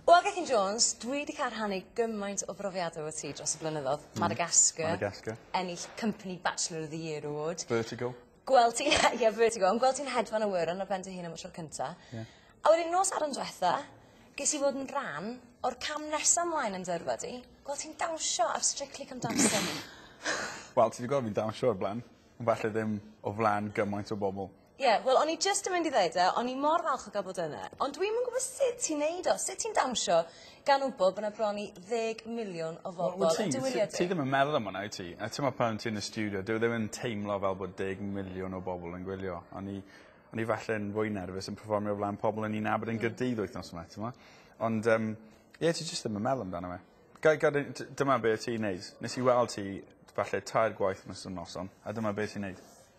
Wel, Gethin Jones, dwi 'di cael rhannu gymaint o brofiad efo ti dros y blynyddodd. Hmm. Madagascar. Madagascar. Ennill Company Bachelor of the Year award. Vertigo. Gweld ti, ie, Vertigo, ond gweld ti'n hedfan y wŷr yn ar ben dy hun am y tro cynta. Ie. A wedyn nos Sadwrn dwetha, ges i fod yn rhan o'r cam nesa ymlaen yn dy yrfa di. Gweld ti'n dawnsio ar Strictly Come Dancing. Wel, ti 'di gweld fi'n dawnsio o'r blaen, ond falle ddim o flan gymaint o bobol. Ie, wel o'n i jyst yn mynd i ddeud e, o'n i mor falch o gael bod yna, ond dwi'm yn gwybod sut ti'n neud o, sut ti'n dawnsio gan wybod bod 'na bron i ddeg miliwn o Wel bobl wyt yn ti dy wyliau ti ti ddim yn meddwl am hwnna wyt ti? A t'mo' pan ti yn y stiwdio dyw e ddim yn teimlo fel bod deg miliwn o bobol yn gwylio. O'n i o'n i falle yn fwy nerfus yn perfformio o flan pobol o'n i'n nabod yn Gaerdydd wythnos 'ma t'mo'? Ond yym ie ti jyst ddim yn meddwl amdano fe. Ga- gad i d- dyma be' o' ti'n neud nes i weld ti falle tair gwaith nos- y noson a dyma be' ti'n neud.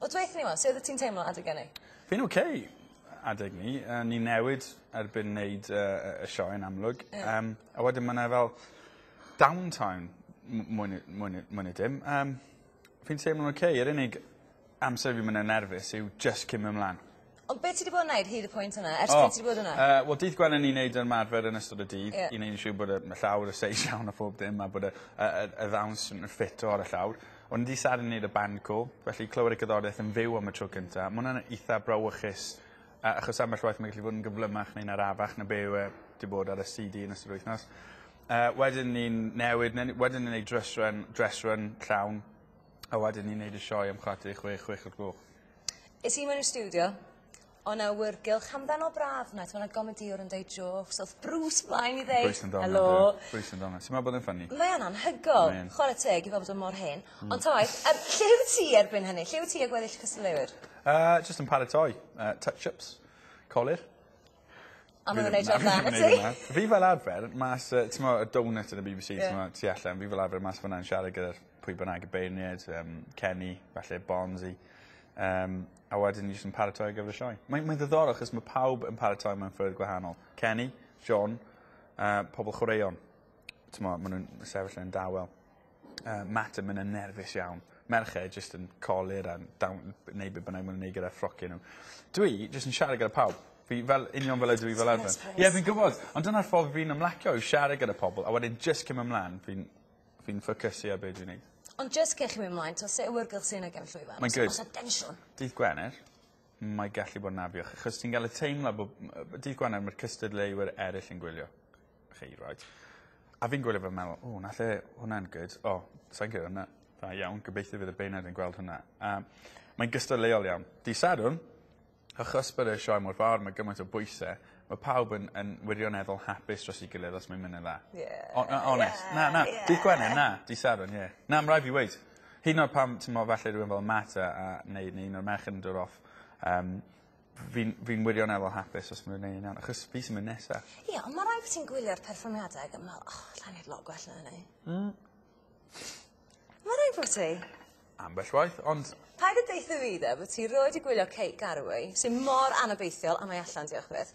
O dwetha ni 'wan su' oddet ti'n teimlo adeg ynny? Fi'n oce adeg 'ny yy ni newid erbyn neud yy y y sioe yn amlwg. Ie. Yym a wedyn ma' 'na fel down time m- mwy ne' mwy ne' mwy ne' dim yym fi'n teimlo'n oce yr unig amser fi myn' yn nerfus yw jyst cyn myn' mlan. Ond be' ti 'di bod yn neud hyd y pwynt yna ers... O! ...pryd ti 'di bod yna? Yy wel dydd Gwener ni'n neud ymarfer yn ystod y dydd... Ie. ...i neud yn siŵr bod y ma' llawr y seis iawn a phob dim a bod y y y y ddawns yn ffit o ar y llawr. On' dydd Sadwrn neud y band call felly clywed y cerddorieth yn fyw am y tro cynta ma' wnna'n itha brawychus yy achos ambell waith mae'n gallu bod yn gyflymach neu'n arafach na be' yw e 'di bod ar y See Dee yn ystod yr wythnos. Yy wedyn ni'n newid ne' ni wedyn ni'n neud dryss run dress run llawn a wedyn ni'n neud y sioe am chwarter i chwech chwech o'r gloch. Is he mewn i'r stiwdio? O na wr gylch hamdden o braf na t'mo' 'na gomedïwr yn deud jôcs o'th Bruce mlaen i ddeud... Bruce yn dal yna. ...helo. Bruce yn dal 'na. Ti me'wl bod e'n ffyni? Mae o'n anhygol. Mae yn. Chware teg i fo fod o mor hen. Hmm. Ond ta waeth yym lle wyt ti erbyn hynny? Lle wyt ti â gweddill y cystadleuwyr? Yy jyst yn paratoi yy touch ups. Colur. A ma' nw'n neud jób dda i ti. Fi fel arfer mas yy t'mo' y doughnut yn y Bee Bee See... Ie. ...t'mo' tu allan fi fel arfer mas fynna yn siarad gyda'r pwy bynnag y beirniaid yym Kenny falle Bonsi yym a wedyn ni jys yn paratoi ar gyfer y sioe. Mae'n mae'n ddiddorol achos ma' pawb yn paratoi mewn ffyrdd gwahanol. Kenny Siôn a pobol chwaraeon. T'mo' ma' nw'n sefyll yn dawel. Yy Matt yn myn' yn nerfus iawn. Merched jyst yn colur a down neu be' bynnag ma' nw'n neud gyda ffrocie n'w. Dwi jyst yn siarad gyda pawb. Fi fel union fel ydw i fel arfer. Ie fi'n gwbod ond dyna'r ffordd fi'n ymlacio yw siarad gyda pobol a wedyn jyst cimo mlan. Fi'n fi'n ffocysu ar be' dwi'n neud. Ond jyst cyn chi myn' mlaen t'o' se' awyrgylch sy yn y gefn llwyfan? Mae'n good. Os o's 'na densiwn. Dydd Gwener mae gallu bod yn afiach achos ti'n ga'l y teimlad bo' m- yy dydd Gwener ma'r cystadleuwyr eryll yn gwylio. chi reit. A fi'n gwylio fe a me'wl o 'na lle wnna'n good o sai'n crio am 'na. Da iawn gobeithio fydd y beirniaid yn gweld hwnna. A mae'n gystadleuol iawn. Dy' Sadwrn achos bod y sioe mor fawr ma' gymaint o bwyse ma' pawb yn yn wirioneddol hapus dros 'i gilydd os mae'n myn' yn dda. Ie. O- yy onest. Na na. Dydd Gwener na. Dydd Sadwrn ie. Na ma' rai' fi weud hyd yn o'd pan t'mo' falle rywun fel Marta a neu neu un o'r merched yn dod off yym Fi'n fi'n wirioneddol hapus os ma' nw'n neu' yn iawn achos fi sy myn' nesa. Ie on' ma' rai' bo' ti'n gwylio'r perfformiadau ag yn me'wl o allai neud lot gwell na hynny. Hmm. Ma' rai' bo' ti. Ambell waith ond... Paid â deutho fi 'de bo' ti rioed 'di gwylio Kate Garraway sy mor anobeithiol a mae allan diolch byth.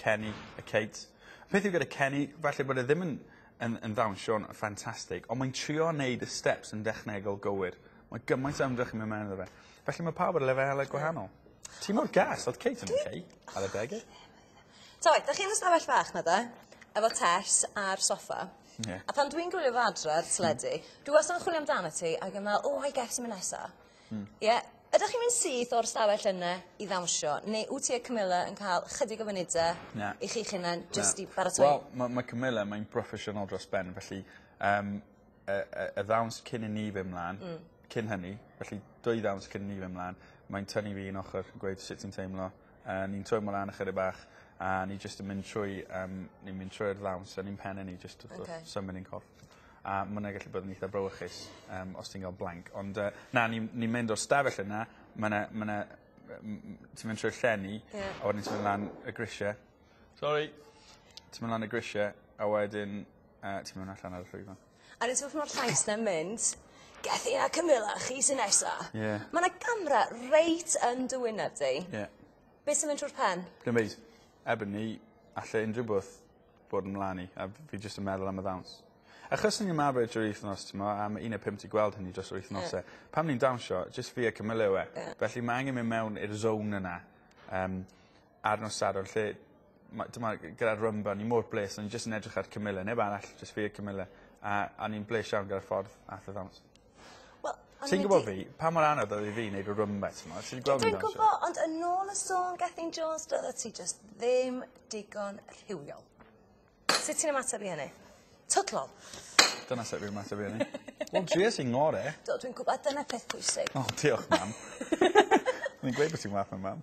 Kenny a Kate. Y peth yw gyda Kenny, falle bod e ddim yn yn yn ddawnsio'n ffantastig, ond mae'n trio neud y steps yn dechnegol gywir. Mae gymaint o ymdrech yn mynd mewn iddo fe. Felly mae pawb ar lefelau gwahanol. Ti mor gas, oedd Kate yn oce ar y dege. Ta waith, da chi'n ystafell fach na da, efo Tess ar soffa. Yeah. A pan dwi'n gwylio fo adre ar teledu, dwi wastad yn chwilio amdano ti ac yn meddwl, oh, I guess yn mynd nesa. Hmm. Ie. Ydych chi'n mynd syth o'r stafell yna i ddawnsio neu wt ti a Camilla yn cael chydig o funudau... Na. ...i chi'ch hunan jyst... Na. ...i baratoi? Wel ma' ma' Camilla mae'n broffesiynol dros ben felly yym y y y ddawns cyn i ni fyn' mlan... Hmm. ...cyn hynny felly dwy ddawns cyn i ni fyn' mlan mae'n tynnu fi un ochor yn gweud sut ti'n teimlo a ni'n twymlo lan ychydig bach a ni jyst yn mynd trwy yym ni'n mynd trwy'r ddawns yn ein penne ni jyst wrth wrth... Oce. ...symud ein corff. a ma' wnna gallu bod yn eitha brawychus um, os ti'n cael blank. Ond uh, na, ni'n ni mynd o'r stafell yna, mae yna, ma yna, ti'n mynd trwy'r llenni, yeah. a wedyn ti'n mynd lan y grisiau. Sorry. Ti'n mynd lan y grisiau, a wedyn uh, ti'n mynd allan ar y llwyfan. A ti'n mynd o'r llais na mynd, Gethin a Camilla, chi sy'n nesa. Yeah. Mae yna gamra reit yn dy wyneb di. Yeah. Beth sy'n mynd trwy'r pen? Dim byd. Ebony, allai unrhyw beth bod yn mlan i a fi jyst yn meddwl am y ddawns. Achos ni'n ymarfer drwy wythnos t'mo' a ma' un ne' pump 'di gweld hynny dros yr wythnose. Ie. Pan ni'n dawnsio jyst fi a Camilla yw e. Ie. Felly ma' angen myn' mewn i'r zone yna yym ar nos Sadwrn lle ma' t'mo' g- gyda'r Rumba ni mor bles o'n i jyst yn edrych ar Camilla neb arall jyst fi a Camilla a a ni'n bles iawn gyda'r ffordd ath y ddawns. Wel o'n i 'di... Ti'n gwbo fi pa mor anodd oedd i fi neud y rwymbe t'mod ti 'di gweld fi'n dawnsio. Dwi'n gwbo ond yn ôl y sôn Gethin Jones do'ddet ti jyst ddim digon rhywiol. Sut ti'n ymateb i hynny? Twtlol. Dyna sut fi ymateb i ynny. Wel dries i ngore. Do dwi'n gwbo a dyna peth pwysig. O diolch mam. O'n i'n gweud bo' ti'n wath na mam.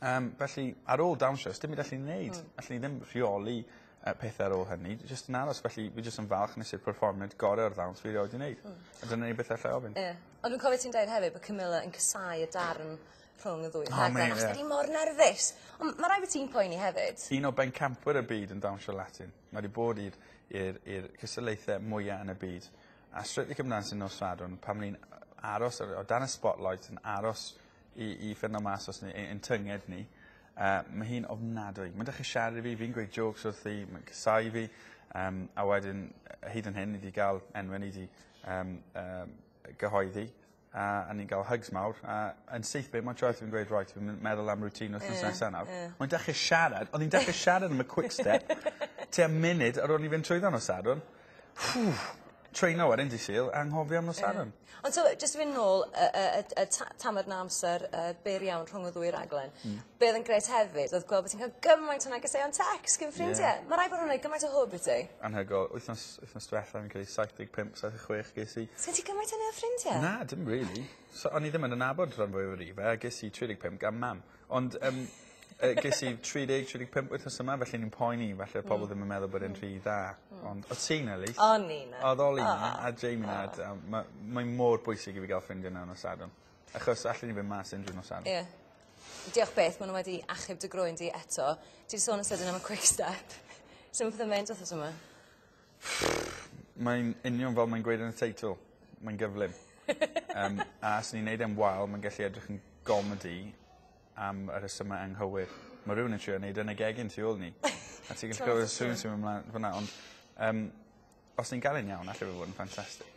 Yym felly ar ôl dawnsio sdim byd allwn ni neud. Hmm. Allwn ni ddim rheoli yy pethe ar ôl hynny jy- jyst yn aros felly fi jyst yn falch nes i'r perfformiad gore o'r ddawns fi rioed 'di neud. Hmm. A dyna ni byth allai ofyn. Ie. Ond dwi'n cofio ti'n deud hefyd bo' Camilla yn casáu y darn rhwng y ddwy O rhaglen mate ie. achos bod 'i mor nerfus. On' ma' rai' bo' ti'n poeni hefyd. Un o bencampwyr y byd yn dawnsio Latin. Mae 'di bod i'r i'r i'r cystadlaethe mwya yn y byd. A Strictly Come Dancing nos Sadwrn pan o'n i'n yy aros ar o dan y spotlight yn aros i i ffindo mas os ni ei- ein tynged ni. Yy ma' hi'n ofnadwy. Ma'n dechre siarad i fi fi'n gweud jôcs wrthi ma'n casáu fi yym a wedyn yy hyd yn hyn ni 'di ga'l enwe ni 'di yym yym yy gyhoeddi a a ni'n ga'l hygs mawr a yn syth bin mo'n troed fi'n gweud reit fi myn' meddwl am routine wthnos nesa nawr. Ie ie. Mae'n dechre siarad o'n i'n dechre siarad am y quickstep tua munud ar ôl i ni fynd trwyddo nos Sadwrn. Ww! Train hour yndi Sul? Anghofio am nos Sadwrn. Ie. Ond t'mo' jyst i fyn' nôl y y y t- y ta- tamed 'na amser yy byr iawn rhwng y ddwy raglen. Hmm. Be' odd yn grêt hefyd odd gwel' bo' ti'n ca'l gymaint o negeseuon tecs gin ffrindie. Ie. Ma' rai' bo' nw'n neud gymaint o hwb i ti. Anhygol. Wythnos wythnos dwetha fi'n credu saith deg pump saith deg chwech ges i. Sgin ti gymaint â 'ny o ffrindie? Na dim rili. So o'n i ddim yn y nabod rhan fwyaf o ni fe a ges i tri deg pump gan mam. Ond yym yy ges i tri deg tri deg pump wythnos yma felly o'n i'n poeni falle odd pobol ddim yn meddwl bod e'n rhy dda. Hmm. Ond odd ti 'na Elise. O'n i 'na. Odd Oli 'na. O. A Jamie 'na a d- yym ma' mae mor bwysig i fi ga'l ffrindie mewn nos Sadwrn. Achos allen ni fyn' mas unryw nos Sadwrn. Ie. Diolch byth ma' n'w wedi achub dy groen di eto. Ti 'di sôn yn sydyn am y quick step. Su' ma' petha'n mynd wthnos yma? Mae'n union fel mae'n gweud yn y teitl. Mae'n gyflym. Yym a os ni'n neud e'n wael ma'n gellu edrych yn gomedi am y rhesyma anghywir. Ma' rywun yn trio neud e yn y gegin tu ôl ni. A ti gallu clywed y sŵn sy myn' mlan fynna ond yym os ni'n ga'l e'n iawn alle fe fod yn ffantastic.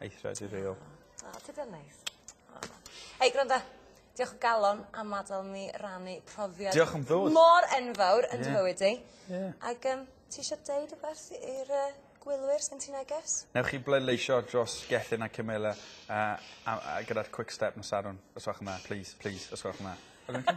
Aethra dy reol. O ti dal neis. Hei gwranda. Diolch o galon am adel ni rannu profiad... Diolch am ddod. ...mor enfawr yn dy fywyd di. Ie. Ie. Ag yym ti isio deud wbath i'r yy gwylwyr sgen ti neges? Newch chi bleidleisio dros Gethin a Camilla a a a gyda'r quick step nos Sadwrn os gwelwch yn dda plîs plîs os gwelwch yn dda.